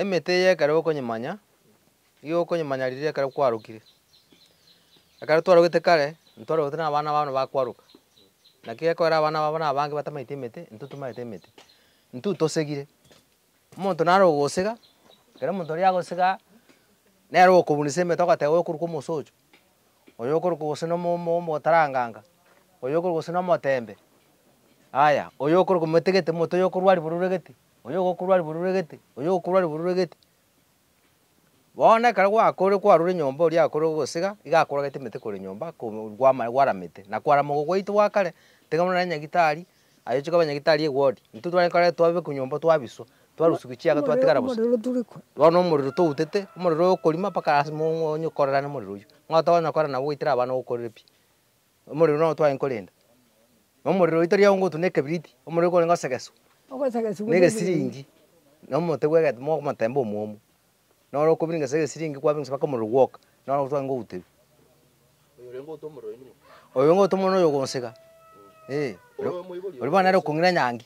Emete eye ekero gokonyemanya, nigo gokonyemanya riria ekero kwarokire. Ekero twarogete kare, ntwarogete na abana babo bakwaroka, naki gekogera abana babo na abange batamaeti emete, intwe tomaete emete, intwe tosegire. Omonto nare ogosega, ekero omonto oria agosegaa, nere ogokobunisa emete ogoteba oyo okorokwa omosocho, oyo okorokwa gose na omo- omo- omotaranganga, oyo okorokwa gose na omotembe, aya, oyo okorokwa motigete omonto oyo okorwa ribaru oregete, Oyogokurwa ribururu egete, oyogokurwa ribururu egete. Bono ekero gwakorire kwarure nyomba oria akorire gosesega, iga akorogete emete korwa nyomba korwa gwamare gwaramete, na kwarama ogo gwaito gwa kare, tiga buna nonye nyagitari, aye ochia koba nyagitari egwori, intwe tware korora twabe korwa nyomba twabiswa, twarusiwa chiaga twatigara bosa. Omorero tore ko. Bono omorero toutete, omorero oyo okorima mpaka lasima onye okorerane omorero oywo, ng'a otokonya korera nabo goitera abana ogokorere pi. Omorero nao twaye nkorenda, na omorero oye tari aongotu na ekebiriti, omorero korenge osegeswa Ogosegeswa na egesiringi na omote bw'egetima omotemba omwomo, na ore okobiringesa egesiringi kwabiringesa mpaka omorero gwoka, naro abo twaye ngouterwa. Oyo orenge outa omorero oyo nigo. Oyo orenge outa omorero noyo ogonsega, ee, oria bono nere okong'ina nyangi.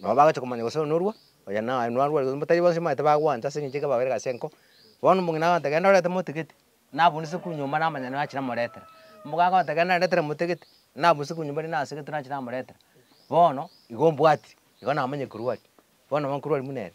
Nabo bagachia komanya gose oyo norua, oyo naye narua, erio motari bonsi mbaete bagwancha ase eng'encho ekio babeire gose ase enko. Bono omong'ina agote genda orete motigiti, nabunise kwo nyomba namanya nigo achire amoretera. Mbogo agote genda oretere motigiti, nabunise kwo nyomba ere nasegetwe nachire amoretera. Bono igo mbwati, igo namanyire korwa aria, bono nabo nkorwa aria buna ere.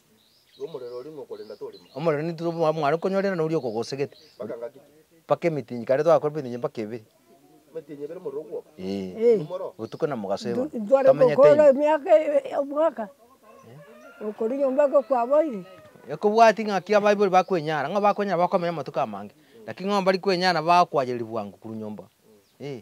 omorero nintwe omwabo mware konyorera noria okogosegete mpaka emitinyi kare twagakora emitinyi mpaka ebere eeh botuko na mogaso igo tomenyete ime. emiaka omwaka okori nyomba igo kwaboire. Ekobwati ng'aki abaibori bakwenyara, ng'a bakwenyara bakomenya amatuko amange, lakini ng'a mbari kwenyara nabo bagokwanyereria bwango korwa nyomba eeh.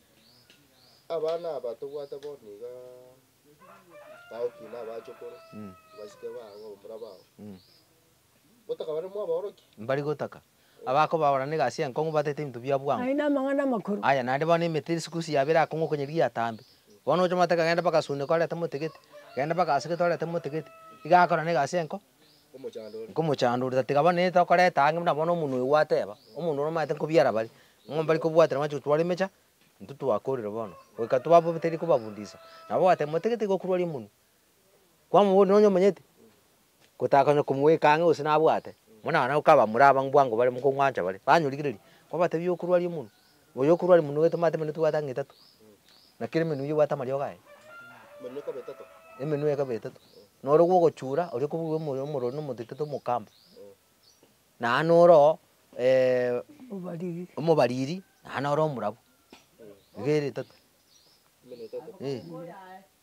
Abana aba tobwate bono iga bagokina abachokoro, abasike bao, abamura bao. Gotaka bare mwaborokia. Mbari gotaka. Abakobaora negasi y'enkong'u batete ebinto bia bwango. Aye namang'ana amakoro. Aya naende bono emete ere sikusi yabo erakong'wa okonyeria eyatambe. Bono ochomate kagenda mpaka Suneku arete motegete, kagenda mpaka Aseke torete motegete. Iga akorana egasi y'enko. nkomochandorera, tiga bono nigo tokoreta ang'e buna bono omonwe gwateba, omonwe omanyete nkobiara bare, ng'a mbare kobwatera amache gotwara emecha, intwe twakorire bono, goika twaba teri kobafundisa, nabo ogoteba motagete iga okorwaria omonwe, kwamoboria nonye omonyete, gotaka konya komoeka ang'e gose nabwate, buna naye okaba muraba bwango bare mokong'wancha bare, banyorigereri, kwabatebia okorwaria omonwe. Oyo okorwa are monwe gete mate emenwe tibwate ang'e etato, na kera emenwe eyio ebwate amariogo aye, emenwe ekaba etato, na oria bwogochura oria okobua omoyo omorwori na omotetete omokamba, naye noro oo omobariri, naye noro omorabwo, iga ere etato, eh.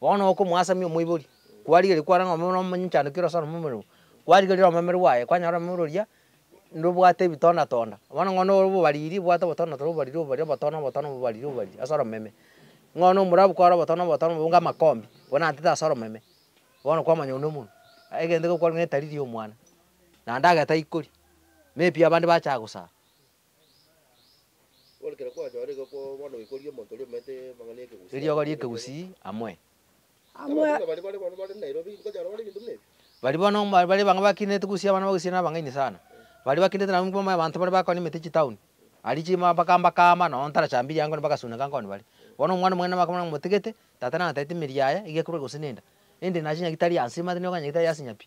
Bono okomoasamia omoibori, kwarigeria kwaranga omomero omochandokire ore ase omomera oo, kwarigeria omomero bwaye, kwanyora omomero oria nobwate ebitonda tonda, bono ng'a noro obobariri obwate obotonda tonda obobariri obobariri obotona obotona obobariri obobariri ase oromeme. Ng'a one omorabu kware obotona obotona obonge amakombi, bwenantete ase oromeme, bono kwamanya one omonwe. Egento ekero kwarenge ng'a etariri ya omwana, naende agete aikori, maybe abande bacha gosaa. Eriogo ri'ekegusii amwe. Baria bono mbare bang'e bakinete gusii abana bagusii na abang'aini sana. Baria bakinete nabo nigo abanto baria bakorimete chitown. Aria chima mpaka mbakama nonya ntarachambirie angoo nibagasuneka nkoni baria. Bono omwana omwene nabo bakamanya momotigete, tata nataete emeeri yaye iga ekorwa gose nenda. Ende nachinyaki tari ansima ande nigo okonyora tari ase nya pi.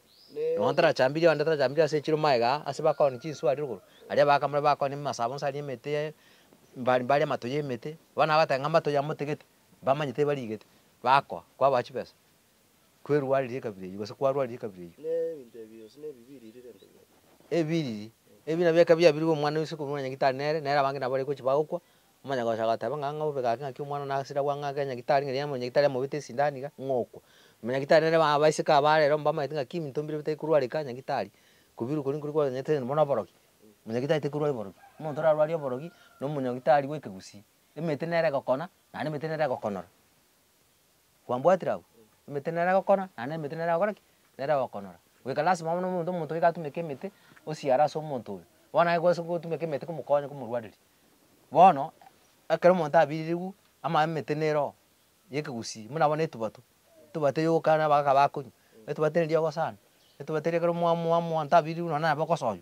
Nonya tarachambirie onde, tarachambirie ase echiro maega aa, ase bakooni chinsu aria rogoro, aria baakamore bakooni emasabo nse aria emete yaye, mbari mbari amato y'emete, bono agobatebia ng'a amato yamotegete, mbamanye tibariigete, bakoa, kwaboa chibesa, kwerwaririe ekabira eyio gose kwarwaririe ekabira eyio. Ebibiriri, ebi nabio ekabira yabirigwe omwana o isugu korwa nyagitari nere, nere abange nabo baria gochi bagokwa, Omonyagocha agateba ng'a ng'a obeke gake ng'aki omwana one agasira gwa ng'a gake onye gitari ng'eria onye gitari amobete esindani iga, ng'okwa. Manya gitari nere ba abaiseke aba are ere mbamaete ng'aki ebinto mbire bitari korwareka onye gitari, kobirwa koria nkoria kwanyeete onye buna oborogi, manya gitari tari korwari oborogi. Omonto orarwarie oborogi, na omonyagitari bw'ekegusii. Emete nere egokona, naende emete nere egokonora. Kwambwatire abwo? Emete nere egokora, naye na emete nere egokora ki? Nere egokonora. Goika lasima bono omonto omonto goika atumeke emete, osiare ase omonto oyo. Bono aye gwase gotumeka emete komokonya komorwareria. Bono, ekero omonto abiririwu, ama emete nere oo, ya ekegusii, buna bono etubato, etubato eywo ogoka nere abagaaka bakonywa, etubato erinde riogosana, etubato erio ekero mwa mwa monto abiririwu nonye naye bogosoywa,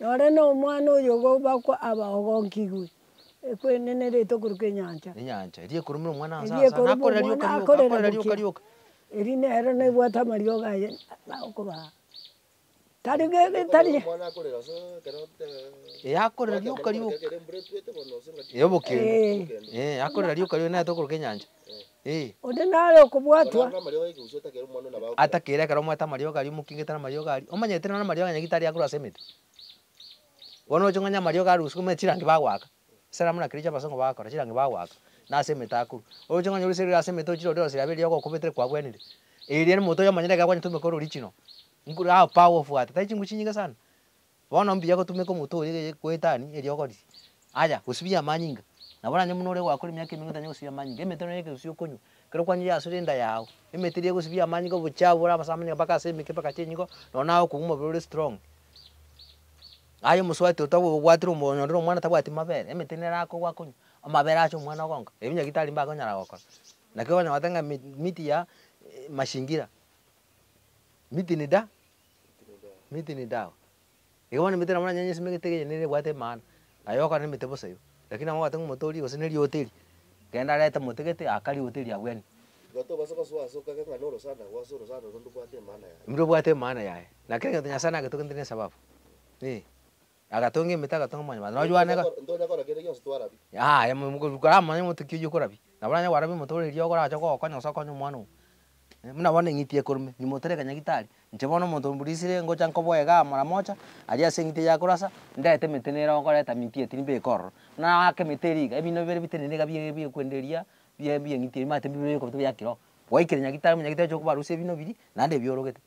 Nore nomwana oyo gobakwa abaogonkigwe, ekwenenere tokorwa kwenyancha. Enyancha, eria ekorumera omwana ase Eria asare, ekoruma akorera omwana, rioka rioka, akorera rioka rioka. Eri nero nebwate amariogo aye aokobaa. Tari ge tari Okorera omwana akorera ase ekero te- Ee akorera rioka rioka. Embura etwete bono ase engaki. Eyobokenda, Ee. ee akorera rioka rioka naye tokorwa kenyancha. Onde nare okobwatwa. Atakeire ekero omwete amariogo aria omokingete namariogo aria. Omanyete nonya amariogo onye gete aria akorwa ase emete. Bono oroche ng'onye amariogo arusiwu omanyete chirangi bagoaka. Esalamu na kericho abasongo bagokora chirangi bagoaka na ase emete akorwa. Oroche ng'onye orisirie ase emete ochire orire oroseri abe eriogo okobetire kwabwenire. Eria moto oyo omanyete ekero kwanyetwe omokoro original. Nguru how powerful art. Tari chinguru chinyinge sana. Bono mbuya gotumeka omonto oria eye goetania eriogori, aya, gosibia amanyinga. Nabo onye buna ore gwakora emiaka emenge otanye gosibia amanyinga, emete nonya ekegusi okonywa, ekero kwanywa yasure enda yao, emete eria egosibia amanyinga obochafu bore ase amanyinga mpaka ase emeke mpaka chinyingo, nonya naye okong'u omobere ore strong. Aye omosubati otagobwatire omo onye onde na omwana tabwati mabere, emete nere akogwa akonywa, amabere acha omwana ogonka, ebi naki tari mbe akonyara gokora. Naki okonyora gotenga mi miti ya mashingira, miti ni da. Miti nidawa. Iga bono emete nabo nonye onye esemegete iga eyende nebwate maana, aye ogokora nemete bosa igo. Lakini nabo ogoteba ng'a omote oria gose nerioteri, genda reta mote gete aa kari oteri abwo ene. Igo tobasa gosoa ase okegega ng'a norosana agwo ase orosana oro ndobwate emana yaye. Ndobwate emana yaye. Na kera egento Nyasaye nagetogenete nesababu, ee. Agatonga emete, agatonga amanyama ase noyoane iga. Ntonya- ntonya kora kende gionsi twarabia. Yaya, mo- mo- koramanya ng'a ki oyio korabia. Nabo onye kwarabia omonto ore erio orache kogokonya gose okonye omwana oo. Eh, buna bono eng'iti ekorumire, nyuma otereke nyagitari, inche bono omonto o mbrisire ngocha nkoboe igaa mara mocha, aria ase eng'iti eria akorasa, ndete emete nere ogoreta minti eye tiri mbeke ororo. Buna aake emete eria iga, ebino bire bitenene iga bie bie kwende eria, bie bie eng'iti eria manyete mbibe bikobeka bia kiro. Gwaikire nyagitari, monyagitari oche kobarusia ebino biria, naende ebi orogete.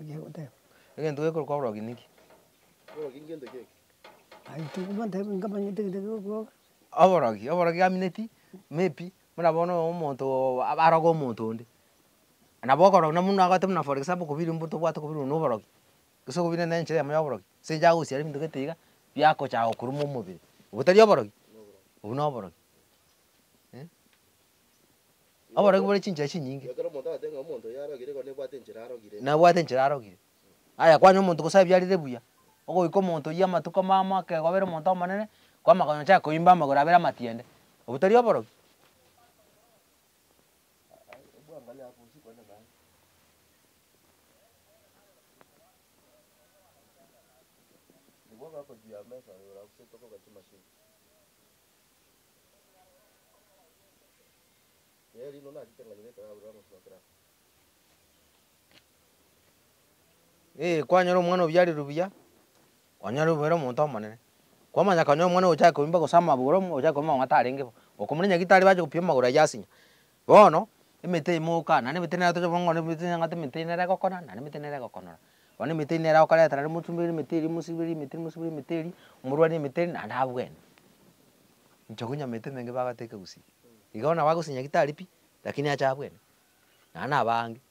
Ekiya goteba. Egento gekorwa kwabrogi niki? Oborogi ngento ki eke? Aye intwe bantebe nkamanyete egento ekero okobwata. Oborogi, oborogi gamineti, maybe, buna bono omonto oo aroge omonto onde, nabo okorogi na buna agote buna for example kobiri mbuto obwate kobirwe na oborogi, gose okobire na enchera yamo ya oborogi, ase enchera agosiara ebinto gete iga, biakochaka kokuruma omobere, obwo tari oborogi? Obwo noborogi eh. Oboronge bore chinchera chinyinge. Ekero omonto agoteba ng'a omonto oyo arogire igo nebwate enchera arogire. Nebwate enchera arogire. Aya kwanya omonto gose abiarire buya, ogoika omonto oyio amatuko mamo akegobera omonto omonene, kwamakonye ochake koimba amagoro abere amatiende. Obwo tari oborogi? Ee kwanyora omwana obiarerwe buya, kwanyora obeire omonto omonene, kwamanya konya omwana ogochaka koimba gose amagoro, ogochaka koimba amang'ata arenge bo, okomoira nyagetari bache gopima amagoro ayio ase nya, Bono, emete eye moka, naende emete eye nere toche kong'ora, emete eye nyang'ata, emete eye nere egokona, naende emete eye nere egokonora. Bono emete eria nere okoreta naende mosubere emete eria, mosibere emete eria, mosibere emete eria, omorwani emete eria, naende abwene. Inche konya emete emenge bagoteka gusii, iga bono nabo agosinya gitari pi, lakini ache abwene, naende nabaange.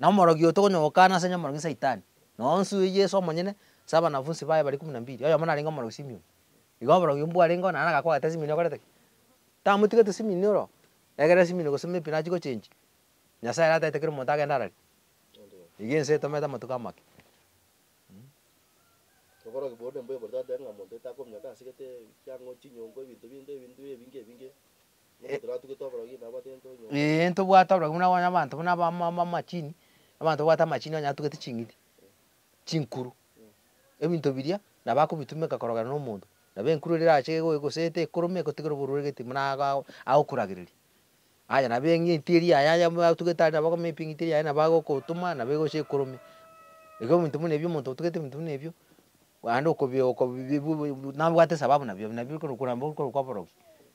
Na omorogi oyo tokonyogokana ase nyomorogi Saitani, na onsi oyo Yeso omonyene, ase abanafunsi baye baria ikumu na mbiri, oyomo narenge omorogi Simioni. Igo oborogi obwo bwarenge oo, naende agakwa agati Simini okorete ki? Tamotigete Simini oro, egerera Simini gose ime pi nachie gochenchia, Nyasaye ere ataete kera omonto agende arari. Iga ense etomete amatuko amake. Oborogi bwo nembweborete bateba ng'a monto etakominyoka asegete ekiang'o, chinyongo, ebinto binde, ebinto ebinge ebinge. Ee, ntobwate oborogi buna bono abanto buna aba ama- ama- amachini, abanto babwate amachini onye atugete ching'iti, chinkuru, ebinto biria nabo akobitumeka korogera na omonto. Nabo enkuru eria erache egoe gose etekorome egotigera oborwaire gete buna ago ago agokuragereria. Aya nabo eng'iti eria yaye aya buna atugete aria nabo akomenya pi eng'iti eria yaye nabo agokotoma nabo egocha ekorome. Igo ebinto buna ebio omonto otugete ebinto buna ebio, aande okobi okobi bi- bi- bu- bu nabwate esababu nabio, nabio okorokwa nabo okorokwa oborogi.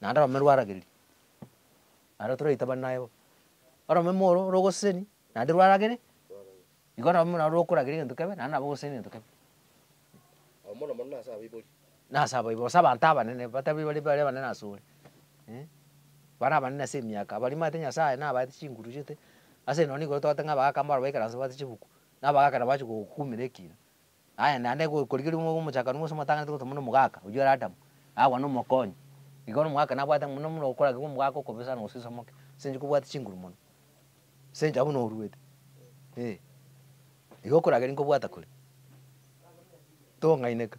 Naende orome rwaragereria, naende toraitabanere aye bobe. Orome moro ore ogoseseni naende rwaragere, igo nabo buna rokoragera egento kebe naende nabo ogoseseni egento kebe. Abo mono mono nase abaibori. Nase abaibori, gose abanto abanene batabwo bare bare abanene asore eh, bare abanene ase emiaka, baria mabete Nyasaye nabaete chinguru chiete, ase eno nigo togote ng'a abagaka mbaro baikare nse bagote chibuku, na abagaka nabo bache gokumera ekiina. Aye naende korigereria omobe omochakanu gose omotanganete gose omone omogaka, oyio ere Adamu, agakwana omokonyi. Igo bono omogaka nabwate ng'a buna buna okoragigwa omogaka okobe sana gose osamoke, ase eng'encho kobwate chinguru mono, ase eng'encho abwo noruete, eh. Igo okorageria nkobwata kore, tong'aineka.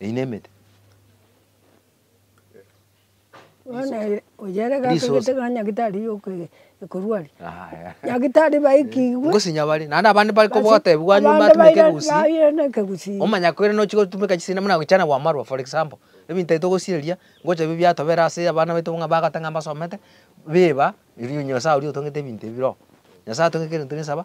Eyi nemete. Bono ere oyere Resource. gakegete ng'a nyagetari yokoe ekorwa aria. Yaya. Nyagetari baikigwe. Ngosinya bare, naende abande bare kobogotebiwa nyuma Abande atumeke baira- egosi. baire na ekegusii. Omanya koirana ochie gotumeka chisende buna goichana gwamarwa for example, ebinto ebi togosiria, ngocha ebi biatobera ase abana baito buna bagoteba ng'a mbasomete, biba, erio Nyasae oria otongete ebinto ebi bira oo. Nyasae atongete kera gento gisaba.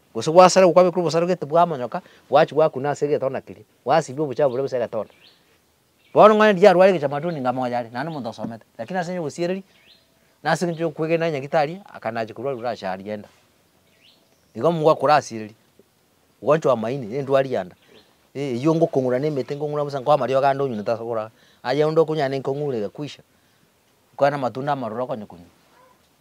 Gose gwasarigwa gwabekwa obosarogeti bw'amanyoka, gwachigwa akwo na ase egetonna keria, gwasibia obochafu boria bose egetonna. Bono ng'a erio yarware egechamato ninga moyo are, naende omonto osomete, lakini ase enchera y'obosiereri, na ase engencho y'okwegena enyagitari, akanacha korwa rora asare aria enda. Igo nigo akorasiereria, ogoanchwa amaini, na endwari ya nda, eh, eyio ngokong'ura na emete, nkong'ura bosa nkoa amariogo ande onyunyete ase okorara, aye onde okonywa naende nkong'ure egakwisha, nkoe na amatunda amarura okonya konywa.